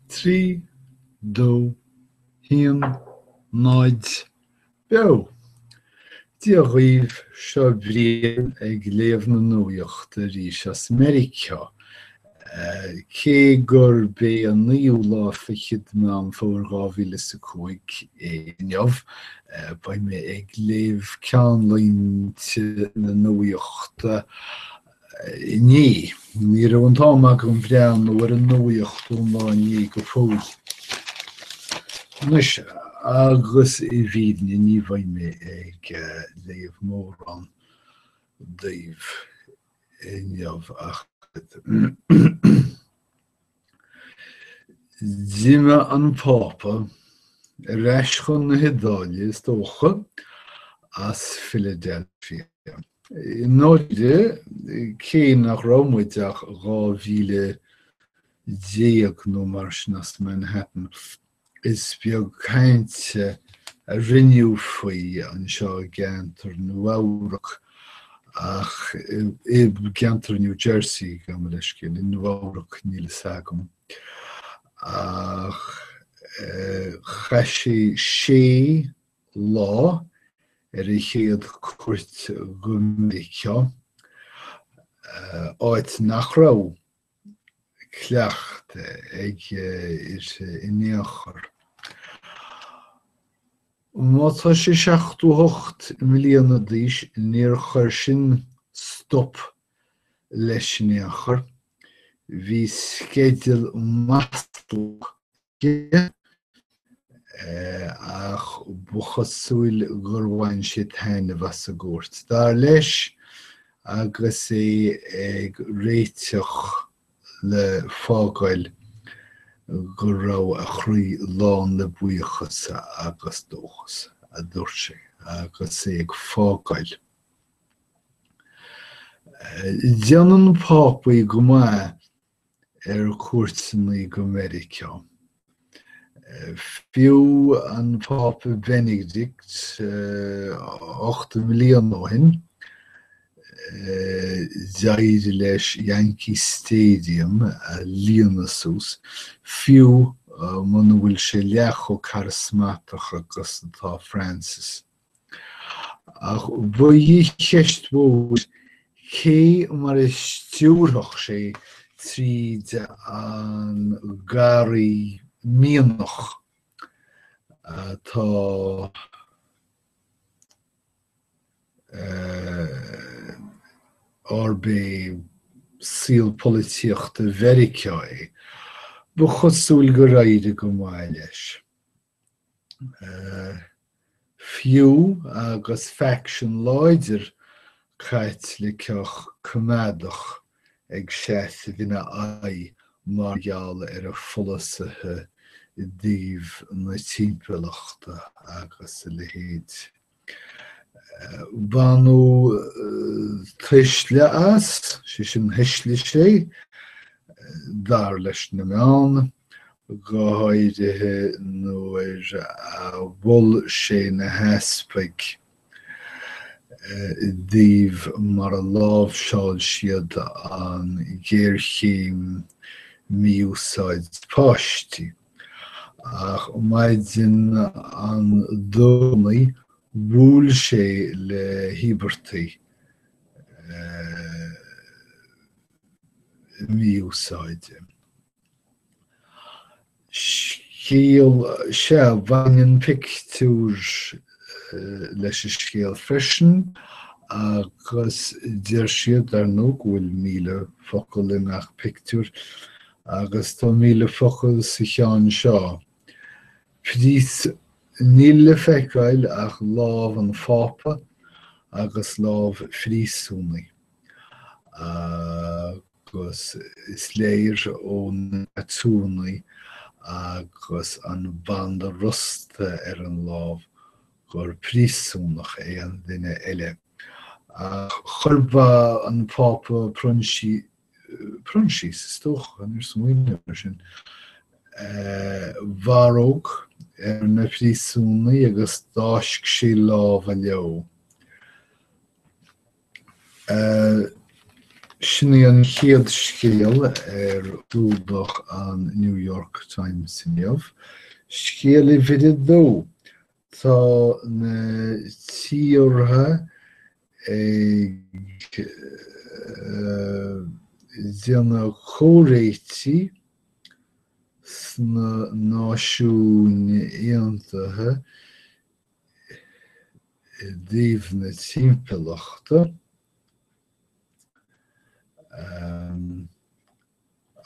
trí, dó, haon, náid, beo! Dia dhaoibh, seo Brian ag léamh na nuaíochta arís as Meiriceá. Cé gurb é an naoú lá fichead Meán Fómhair dhá mhíle is a cúig é inniu, beidh mé ag léamh ceannlínte na nuaíochta, Ní. Ní raibh an t-am agam breathnú ar an nuaíocht ón lá inné go fóill. Anois, agus i bhfírinne ní bheidh mé ag léamh mórán daoibh inniu ach oiread. D'imigh an Pápa ar ais chun na hIodáile, is dócha, as Philadelphia. I ndáirire, cé nach raibh muid ach dhá mhíle déag nó mar sin as Manhattan, Is beag cainte a rinneadh faoi anseo i gceantar Nua-Eabhrac ach i gceantar New Jersey, gabh mo leithscéal, i Nua-Eabhrac níl fhios agam, ach chaith sé sé lá ar a chéad cuairt go Meiriceá, áit nach raibh cleachtadh aige in aon chor. Má tá sé seachtó hocht mbliana d'aois níor chuir sin stop leis in aon chor. Bhí sceideal maslach aige, ach ba chosúil gur bhain sé taitneamh as an gcuairt. Dar leis, agus é ag réiteach le fágáil, go raibh a chroí lán le buíochas agus dóchas, a dúirt sé agus é ag fágáil. Déanann Pápaí go maith ar cuairteannaí go Meiriceá. Fiú an Pápa Beinidict ocht mbliana ó shin, d'éirigh leis Yankee Stadium a líonadh suas, fiú muna bhfuil sé leath chomh carasmatach agus atá Francis. Ach ba í an cheist mhór cé mar a stiúrfadh sé tríd an garraí mianaigh atá arb é saol polaitíochta Mheiriceá é. Ba chosúil gur éirigh go maith leis. Fiú agus faction láidir Caitliceach coimeádach ag seasamh ina aghaidh mar gheall ar a pholasaithe i dtaobh na timpeallachta agus a leithéid. Baineadh tuisle as, sé sin thuisligh sé, dar leis na meáin, go háirithe nuair a mhol sé na heaspaig i dtaobh mar a láimhseáil siad an ghéarchéim mí-úsáid páistí. Ach maidin an Domhnaigh bhuail sé le híobartaigh mí-úsáide. Scéal, sea, baineann pictiúr leis an scéal freisin agus deir siad, ar ndóigh, go bhfuil míle focal i ngach pictiúr Agus tá míle focal sa cheann seo. Prís, Níl le feiceáil ach lámh an Phápa agus lámh phríosúnaigh. Agus is léir ó na tatúanna agus an banda rosta ar an lámh gur príosúnach é an duine eile. Chuir an Pápa Proinsias. Proinsias, is dócha, níor smaoineamar air sin. barróg ar na príosúnaigh agus d'fháisc sé lámha leo. Sin í an chéad scéal ar chlúdach an New York Times inniu. Scéal uimhir a dó. Tá na tíortha ag déanamh comhréitigh sna Náisiúin Aontaithe i dtaobh na timpeallachta,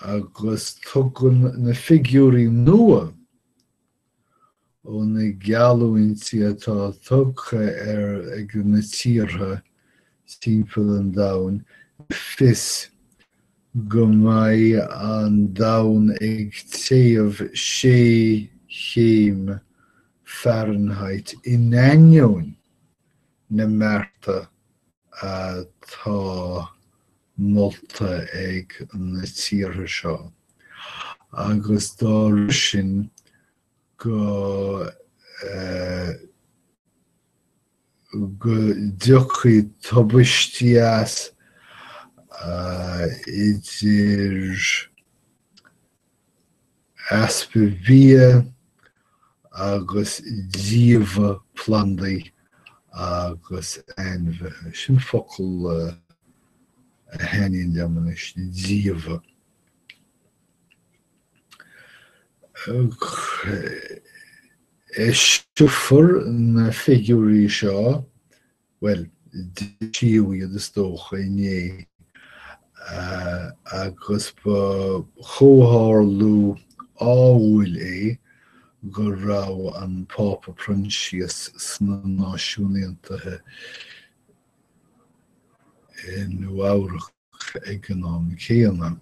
agus tugann na figiúirí nua ó na geallúintí atá tugtha ar ag na tíortha timpeall an domhain le fios go mbeidh an domhan ag téamh sé chéim Fahrenheit in ainneoin na mbearta atá molta ag na tíortha seo, agus dá réir sin go go dtiocfaidh tubaistí as, idir easpa bia agus díobhadh plandaí agus ainmhithe. Sin focal a thaitníonn liom anois, díobhadh. Eiseofar na figiúirí seo Bhuel, d'eisíodh iad is dócha inné, agus ba chomhtharlú ádhúil é go raibh an Pápa Proinsias sna Náisiúin Aontaithe i Nua-Eabhrac. ag an am céanna.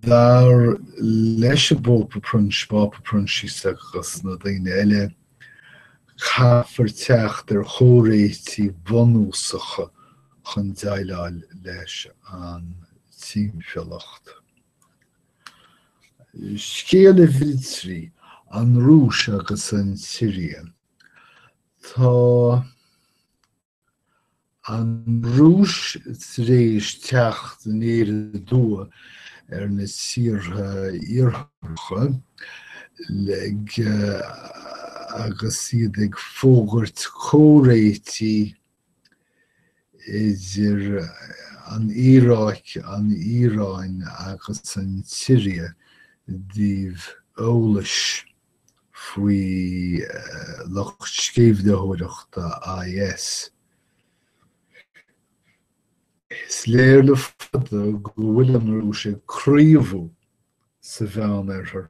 Dar leis an bPápa Proinsias, Pápa Proinsias agus na daoine eile, caithfear teacht ar chomhréitigh bhunúsacha chun déileáil leis an timpeallacht. Scéal uimhir a trí, An Rúis agus an tSiria. Tá. An Rúis tar éis teacht aniar aduaidh ar na tíortha Iartharacha le agus iad ag fógairt comhréitigh idir an Iaráic, an Iaráin agus an tSiria i dtaobh eolais. faoi lucht sceimhlitheoireachta IS. Is léir le fada go bhfuil an Rúis ag gníomhú sa Mheán-Oirthear,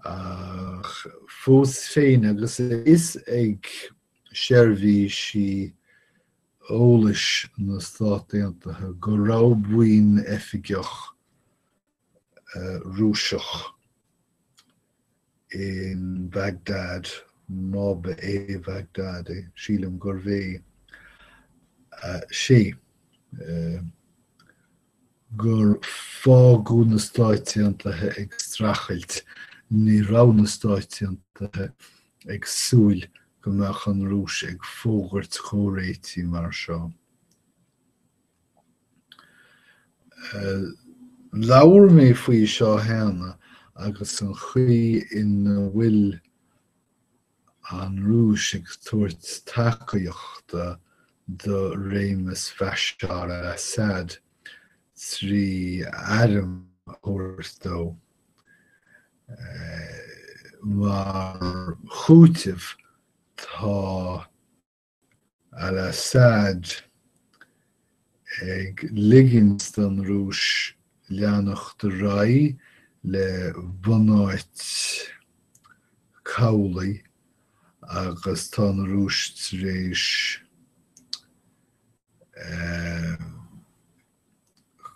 ach fós féin, agus a fhios ag seirbhísí eolais na Stát Aontaithe go raibh buíon oifigeach Rúiseach in Baghdad, má ba é Baghdad é, sílim gurbh é, sé, gur fágadh na Stáit Aontaithe ag streachailt, ní raibh na Stáit Aontaithe ag súil go mbeadh an Rúis ag fógairt comhréitigh mar seo. Labhair mé faoi seo cheana agus an chaoi ina bhfuil an Rúis ag tabhairt tacaíochta do réimeas Bhashar al-Assad trí airm a thabhairt dó. Mar chúiteamh tá al-Assad ag ligint don Rúis leanacht ar aghaidh le bunáit cabhlaigh agus tá an Rúis tar éis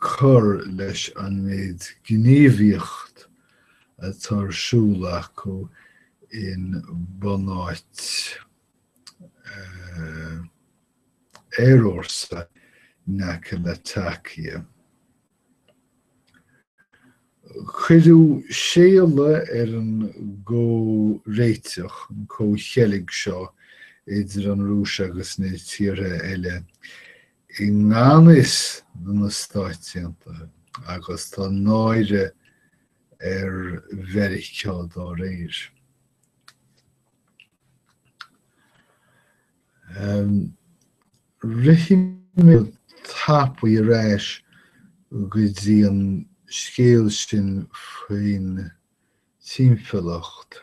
cur leis an méid gníomhaíocht atá ar siúl acu in bunáit aerfhórsa in aice le Latakia. Cuireadh séala ar an gcomhréiteach, an comhcheilg seo idir an Rúis agus na tíortha eile i ngan fhios do na Stáit Aontaithe agus tá náire ar Mheiriceá dá réir. Rithfidh mé go tapaidh ar ais go dtí an scéal sin faoin timpeallacht.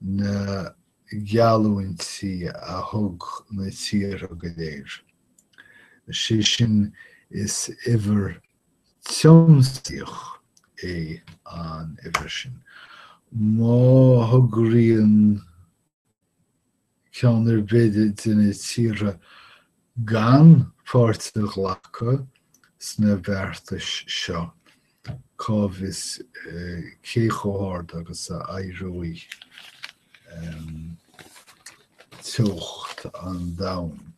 na geallúintí a thug na tíortha go léir, sé sin is uimhir tiomsaíoch é an uimhir sin, má thograíonn ceann ar bith de na tíortha gan pháirt a ghlacadh sna beartais seo, cá bhfios cé chomh hard agus a éireoidh teocht an domhain.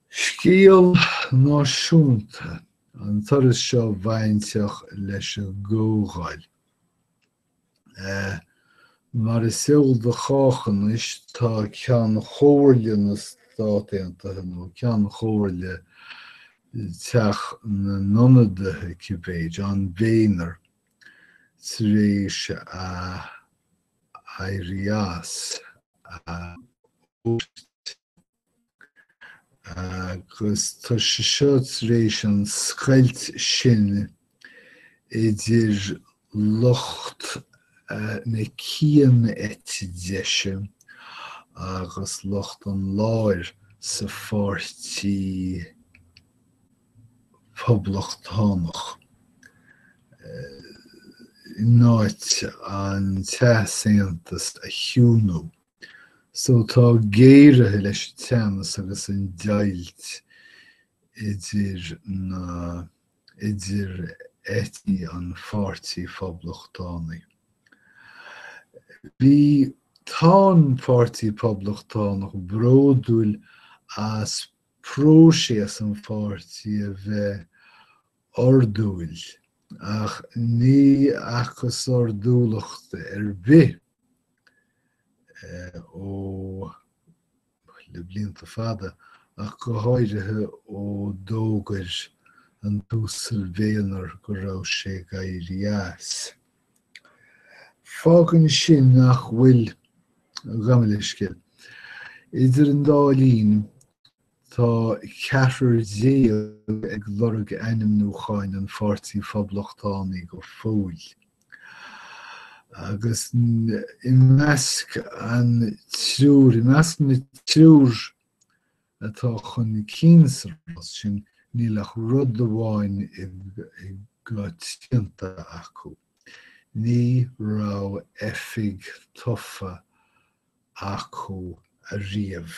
Scéal náisiúnta an turas seo bainteach leis an gComhdháil. Mar is eol do chách anois, tá Ceann Comhairle na Stát Aontaithe, nó Ceann Comhairle Theach na nIonadaithe cibé, John Boehner, tar éis a éirí as a phost. Agus tá sé seo tar éis an scoilt sin idir lucht na cian-eite deise agus lucht an láir sa pháirtí Poblachtánach in áit an t-easaontas a chiúnú. So tá géaraithe leis an teannas agus an deighilt idir na idir eití an Pháirtí Phoblachtánaigh. Bhí tá an Pháirtí Poblachtánach bródúil as próiseas an pháirtí a bheith ordúil ach ní fhacthas ordúlacht ar bith ó le blianta fada ach go háirithe ó d'fhógair an tUasal Boehner go raibh sé ag éirí as. Fágann sin nach bhfuil, gabh mo leithscéal, idir an dá linn Tá ceathrar déag ag lorg ainmniúcháin an Pháirtí Phoblachtánaigh go fóill, agus i measc an triúr, i measc na triúr atá chun cinn sa rás sin, níl ach rud amháin go coitianta acu, ní raibh oifig tofa acu ariamh.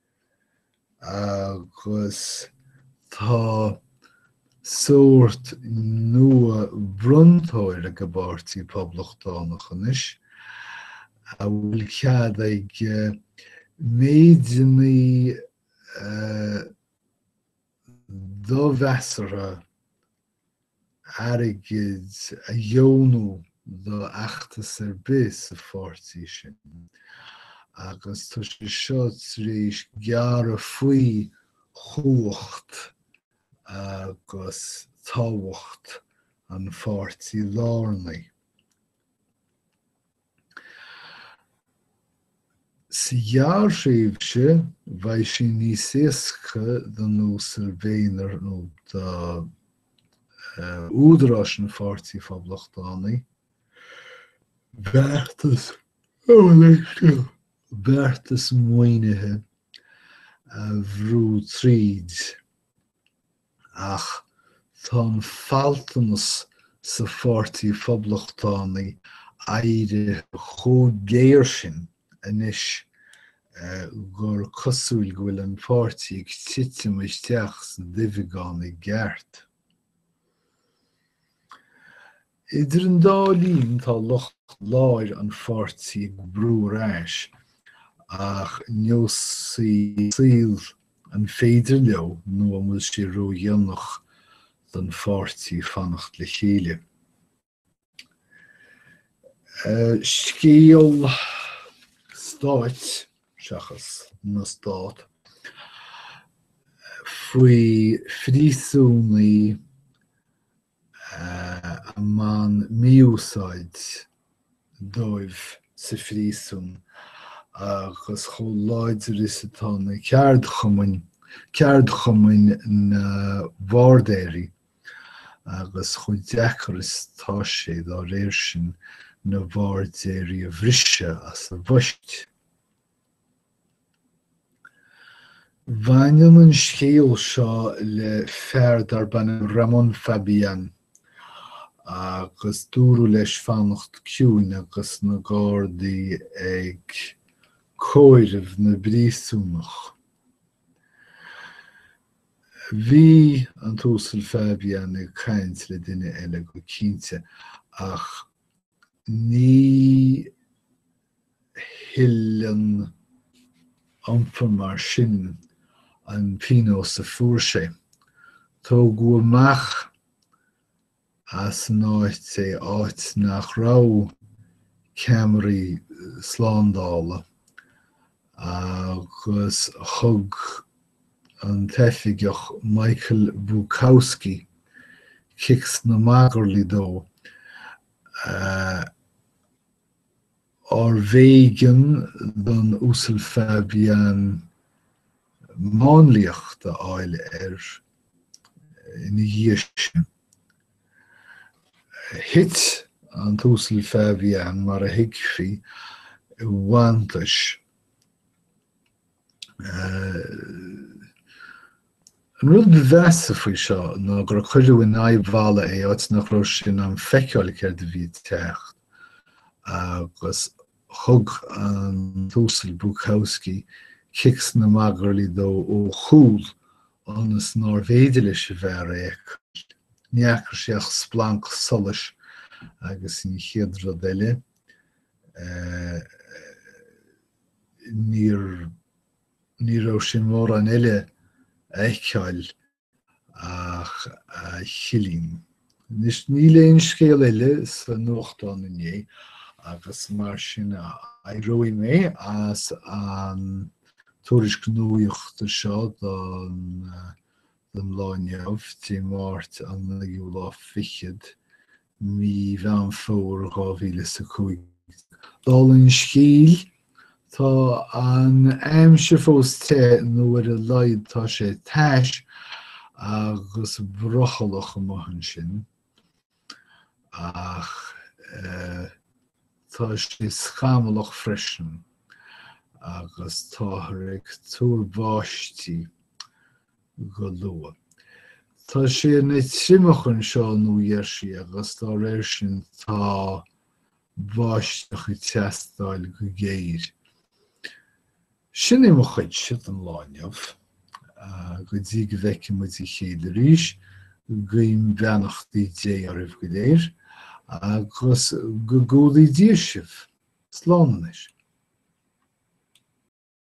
agus tá sórt nua bronntóir ag an bPáirtí Poblachtánach anois a bhfuil cead aige méideannaí a domheasartha airgid a dheonú do fheachtas ar bith sa pháirtí sin agus tá sé seo tar éis gearradh faoi chumhacht agus tábhacht an pháirtí lárnaigh. Sa ghearrthréimhse, bheidh sé níos éasca don Uasal Boehner nó do údaráis an Pháirtí Phoblachtánaigh beartas beartas maoinithe a bhrú tríd. Ach tá an faltanas sa Pháirtí Phoblachtánaí éirithe chomh géar sin anois gur cosúil go bhfuil an páirtí ag titim isteach sa duibheagán i gceart. Idir an dá linn tá lucht láir an pháirtí ag brú ar ais ach neosfaidh saol an féidir leo nó an bhfuil sé ró-dhéanach don pháirtí fanacht le chéile. Scéal stáit, seachas na stát, faoi phríosúnaigh a mbaineann mí-úsáid dóibh sa phríosún agus chomh láidir is atá na ceardchumainn, ceardchumainn na bhairdéirí, agus chomh deacair is atá sé, dá réir sin, na bairdéirí a bhriseadh as a bpoist. Baineann an scéal seo le fear darb ainm Ramón Fabián agus dúradh leis fanacht ciúin agus na Gardaí ag comhaireamh na bpríosúnach. Bhí an tUasal Fabián ag caint le duine eile go cinnte ach ní thuilleann iompar mar sin an pionós a fuair sé. Tógadh amach as an áit é áit nach raibh ceamaraí slándála agus thug an t-oifigeach Michael Bukowski cic sna magairlí dó. Arbh éigean don Uasal Fabian máinliacht a fháil air ina dhiaidh sin? Thit an tUasal Fabian, mar a thuigfí, i bhfanntais. An rud ba mheasa faoi seo ná gur cuireadh in aghaidh balla é áit nach raibh sé in ann feiceáil céard a bhí ag teacht agus thug an tUasal Bukowski cic sna magairlí dó ó chúl ionas nárbh fhéidir leis an bhfear é a fheiceáil. Ní fhaca sé ach splanc solais agus an chéad rud eile. Níor ní raibh sé in ann mórán eile a fheiceáil ach a chillín. Anois níl aon scéal eile sa nuachtán inné agus mar sin éireoidh mé as an tuairisc nuachta seo don lá inniu, Dé Máirt an naoú lá fichead, mí Mheán Fómhair, dhá mhíle is a cúig déag. Dála an scéil, tá an aimsir fós te, nó ar a laghad tá sé tais agus brothallach amach ansin, ach tá sé scamallach freisin, agus táthar ag tuar báistí. go luath. Tá sé ina thriomach anseo nó geall leis agus dá réir sin tá báisteach ag teastáil go géar. Sin é mo chuidse don lá inniu. Go dtí go bhfeice muid a chéile arís, guím beannachtaí Dé oraibh go léir agus go gcumhdaí Dia sibh. Slán anois.